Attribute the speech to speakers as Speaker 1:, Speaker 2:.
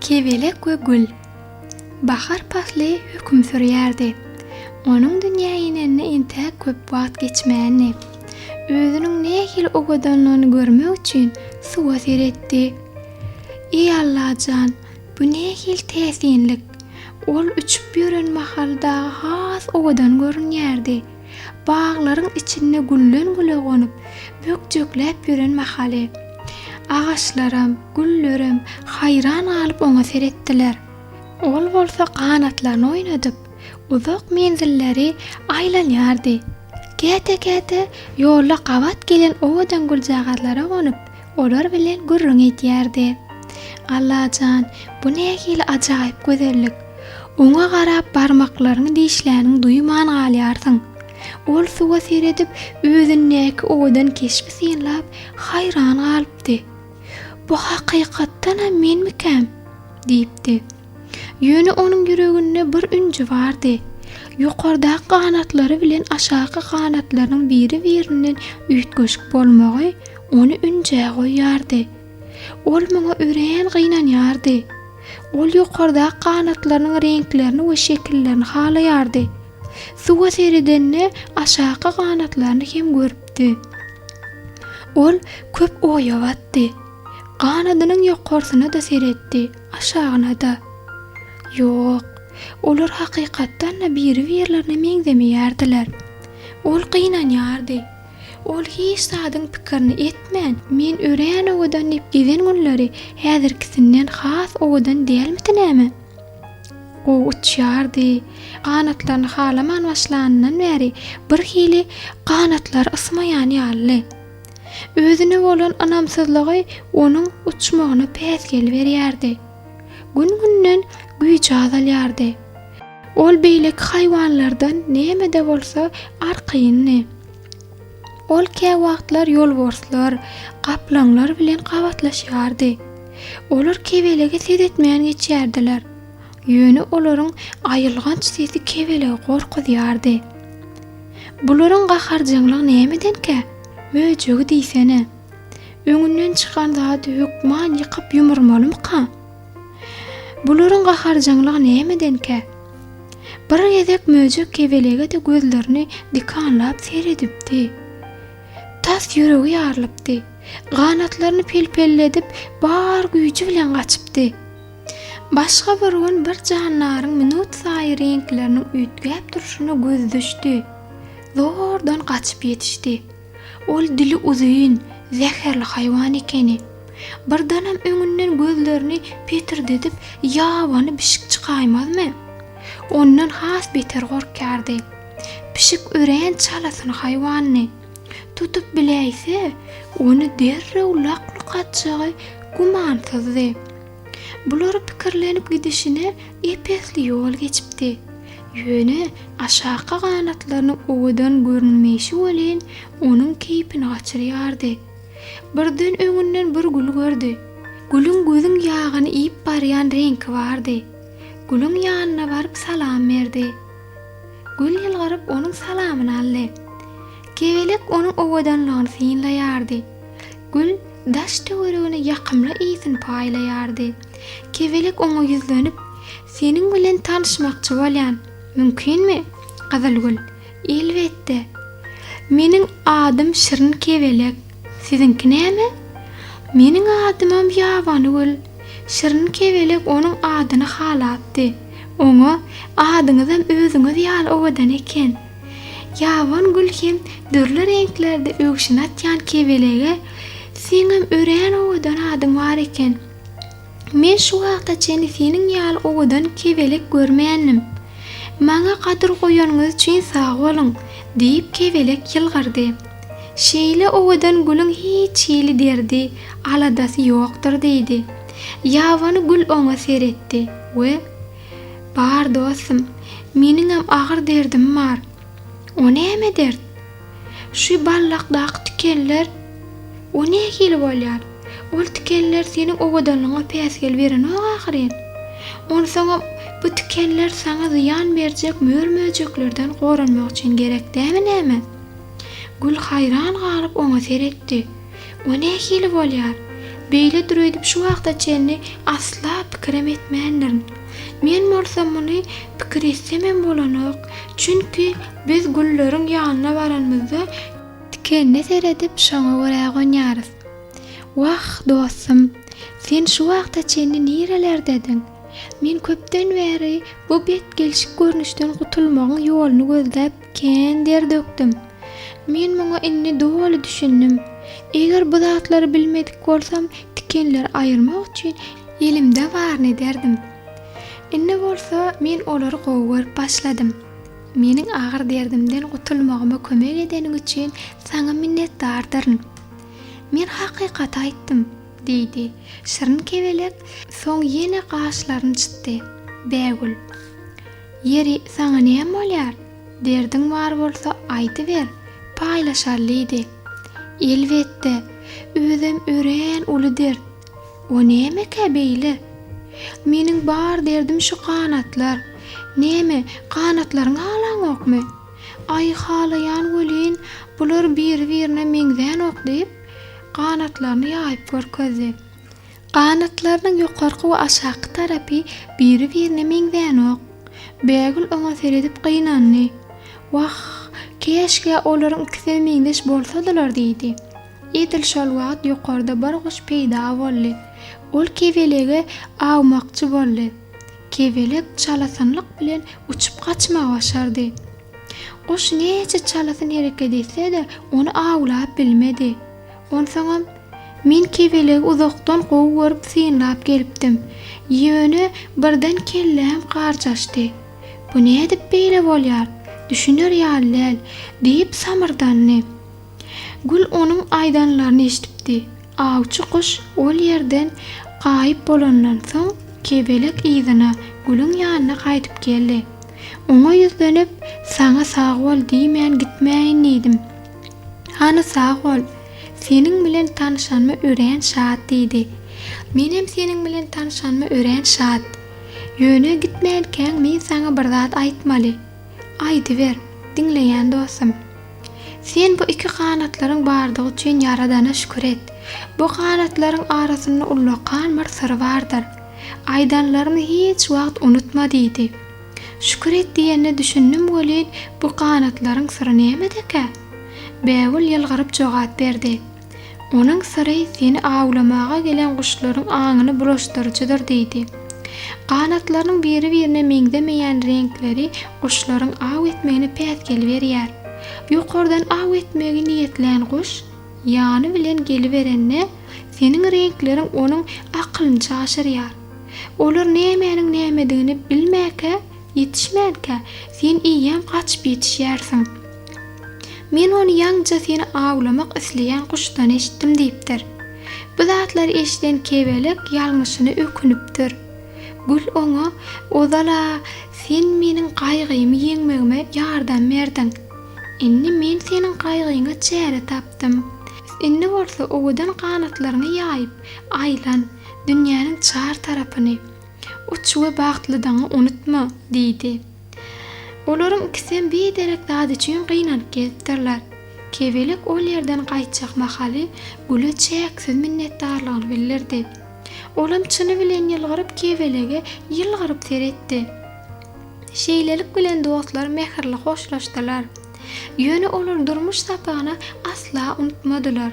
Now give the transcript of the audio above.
Speaker 1: Kebelek we gül. Bahar pasly höküm sürýärdi. Onuň dünýä inenine entäk köp wagt geçmändi. Özüniň nähili owadanlygyny görmek üçin suwa seretdi. Eý Allajan, bu nähili täsinlik! Ol uçup ýören mahaly dagy has owadan görünýärdi. baglaryň içinde gülden-güle gonup, bökjekläp ýören mahaly, agaçlaram, güllerem haýran galyp oňa seretdiler. Ol bolsa ganatlaryny oýnadyp, uzak menzilleri aýlanýardy. Käte-käte ýolda gabat gelen owadan güljagazlara gonup, Olar bilen gürrüň edýärdi. Alla jan, bu nähili ajaýyp gözellik! Oňa garap barmaklaryňy dişläniň duýman galýarsyň. Ol suwa seredip, özündäki owadan keşbi synlap, haýran galypdy. Bu hakykatdanam menmikäm? diýipdi. Ýöne onuň ýüreginde bir ünji bardy. Ýokardaky ganatlary bilen aşaky ganatlarynyň biri-birinden üýtgeşik bolmagy ony ünjä goýýardy. Ol muňa örän gynanýardy. Ol ýokardaky ganatlarynyň reňklerini we şekillerini halaýardy. Suwa seredende aşaky ganatlaryny hem görüpdi. Ol köp oýa batdy. Ganadynyň ýokarsyna-da seretdi. Aşagyna-da. Ýok, olar hakykatdan-da biri-birlerine meňzemeýärdiler. Ol gynanýardy. Ol hiç zadyň pikirini etmän, men örän owadan diýip gezen günleri häzirkisinden has owadan dälmidi näme? Gowy uçýardy. Ganatlaryny halaman başlanyndan bäri birhili ganatlary ysmaýan ýalydy. Özüne bolan ynamsyzlygy onuň uçmagyna päsgel berýärdi. Gün-günden güýji azalýardy. Ol beýleki haýwanlardan näme-de bolsa arkaýyndy. Ol käwagtlar ýolborslar, gaplaňlar bilen gabatlaşýardy. Olar kebelege ses etmän geçýärdiler. Ýöne olaryň aýylganç sesi kebelegi gorkuzýardy. Bularyň gaharjaňlygy nämedenkä? Möjegi diýsene! Öňünden çykan zady hökman ýykyp ýumurmalymyka? Bularyň gaharjaňlygy nämedenkä? Bir gezek möjek kebelege-de gözlerini dikanlap seredipdi. Tas ýüregi ýarylypdy. Ganatlaryny pelpelledip, bar güýji bilen gaçypdy. Başga bir gün bir jandaryň minutsaýy reňkleriniň üýtgäp durşuna gözi düşdi. Zordan gaçyp ýetişdi. Ol dili uzyn, zäherli haýwan ekeni. Birdenem öňünden gözlerini petirdedip ýabany bişik çykaýmazmy? Ondan has beter gorkýardy. Pişik örän çalasyn haýwandy. Tutup biläýse, ony derrew lak-luk atjagy gümansyzdy. Bulary pikirlenip gidişine ep-esli ýol geçipdi. Ýöne aşaky ganatlarynyň owadan görünmeýşi welin, onuň keýpini gaçyrýardy. Birden öňünden bir gül gördi. Gülüň gözüň ýagyny iýip barýan reňki bardy. Gülüň ýanyna baryp salam berdi. Gül ýylgyryp onuň salamyny aldy. Kebelek onuň owadanlygyny synlaýardy. Gül daş-töweregine ýakymly ysyn paýlaýardy. Kebelek oňa ýüzlenip, Seniň bilen tanyşmakçy bolýan. Mümkinmi? Gyzylgül, Elbetde. Meniň adym Şirin kebelek. Siziňki näme? Meniň adymam Ýabany gül. Şirin kebelek onuň adyny halapdy. Oňa, Adyňyzam özüňiz ýaly owadan eken. Ýabon gül hem dürli reňklerde öwşün atýan kebelege, Seňem örän owadan adyň bar eken. Men şu wagta çenli seniň ýaly owadan kebelek görmändim. Maňa gadyr goýanyňyz üçin sag boluň! diýip, kebelek ýylgyrdy. Şeýle owadan gülüň hiç hili derdi, aladasy ýokdur, diýdi. Ýabany gül oňa seretdi we, Bar, dostum, meniňem agyr derdim bar. O näme dert? Şu ballakdaky tikeller. O nähili bolýar? Ol tikeller seniň owadanlygyňa päsgel berenok ahyryn. Onsoňam, bu tikeller saňa zyýan berjek mör-möjeklerden goranmak üçin gerek dämi näme? Gül haýran galyp oňa seretdi. O nähili bolýar? Beýle düreýdip şu wagta çenli asla pikirem etmändirin. Men bolsa muny pikir etsemem bolanok. Çünki biz gülleriň ýanyna baranymyzda tikenine seredip şoňa görä gonýarys. Wah, dostum, sen şu wagta çenli nirelerdediň? Men köpden bäri bu bet gelşik görnüşden gutulmagyň ýoluny gözläp, Kän der dökdüm. Men muňa indi doly düşündim. Eger bu zatlary bilmedik bolsam, tikenleri aýyrmak üçin elimde baryny ederdim. Indi bolsa men olary gowy görüp başladym. Meniň agyr derdimden gutulmagyma kömek edeniň üçin saňa minnetdardyryn. Men hakykaty aýtdym, diýdi. Şirin kebelek soň ýene gaşlaryny çytdy. Bägül. Ýeri, saňa näme bolýar? Derdiň bar bolsa, aýdyber, paýlaşalydy. Elbetde, özem örän uly dert. O nämekä beýle? Meniň bar derdim şu ganatlar. Näme, ganatlaryňy halaňokmy? Aý, halaýan welin, bular biri-birine meňzänok, diýip, ganatlaryny ýaýyp görkezdi. Ganatlarynyň ýokarky we aşaky tarapy biri-birine meňzänok. Bägül oňa seredip gynandy. Wah, käşgä olaryň ikisem meňzeş bolsadylar diýdi. Edil şol wagt ýokarda bir guş peýda boldy. Ol kebelege awmakçy boldy. Kebelek çalasynlyk bilen uçup gaçmagy başardy. Guş näçe çalasyn hereket etse-de, ony awlap bilmedi. Onsoňam, men kebelegi uzakdan gowy görüp synlap gelipdim. Ýöne, birden kelläm garjaşdy. Bu nädip beýle bolýar? Düşüner ýaly däl, diýip samyrdandy. Gül onuň aýdanlaryny eşidipdi. Awçy guş ol ýerden gaýyp bolandan soň, kebelek yzyna, Gülüň ýanyna gaýdyp geldi. Oňa ýüzlenip, Saňa sag bol diýmän gitmäýin diýdim. Hany sag bol. Seniň bilen tanyşanyma örän şat diýdi. Menem seniň bilen tanyşanyma örän şat. Ýöne gitmänkäň men saňa bir zat aýtmaly. Aýdyber, diňleýän dostum. Sen bu iki ganatlaryň bardygy üçin Ýaradana şükür et. Bu ganatlaryň arasynda ullakan bir syr bardyr. Aýdanlarymy hiç wagt unutma diýdi. Şükür et diýenine düşündim welin, bu ganatlaryň syry nämedekä? Bägül ýylgyryp jogap berdi. Onuň syry seni awlamaga gelen guşlaryň aňyny bulaşdyryjydyr diýdi. Ganatlarynyň biri-birine meňzemeýän reňkleri guşlaryň aw etmegine päsgel berýär. Ýokardan aw etmegi niýetlän guş ýany bilen geliberende, seniň reňkleriň onuň akylyny çaşyrýar. Olar nämäniň nämedigini bilmäkä, ýetişmänkä, sen eýýäm gaçyp ýetişýärsiň. Men ony ýaňja seni awlamak isleýän guşdan eşitdim diýipdir. Bu zatlary eşiden kebelek ýalňyşyna ökünipdir. Gül oňa, Ozal-a, sen meniň gaýgymy ýeňmegime ýardam berdiň. Indi men seniň gaýgyňa çäre tapdym. Indi bolsa owadan ganatlaryňy ýaýyp, aýlan. Dünýäniň çar tarapyny uç we bagtlydygyňy unutma! diýdi. Olaryň ikisem biderek zat üçin gynanyp gelipdirler. Kebelek ol ýerden gaýtjak mahaly Güle çäksiz minnetdarlygyny bildirdi. Olam çyny bilen ýylgyryp Kebelege ýylgyryp seretdi. Şeýlelik bilen dostlar mähirli hoşlaşdylar. Ýöne olar durmuş sapagyny asla unutmadylar.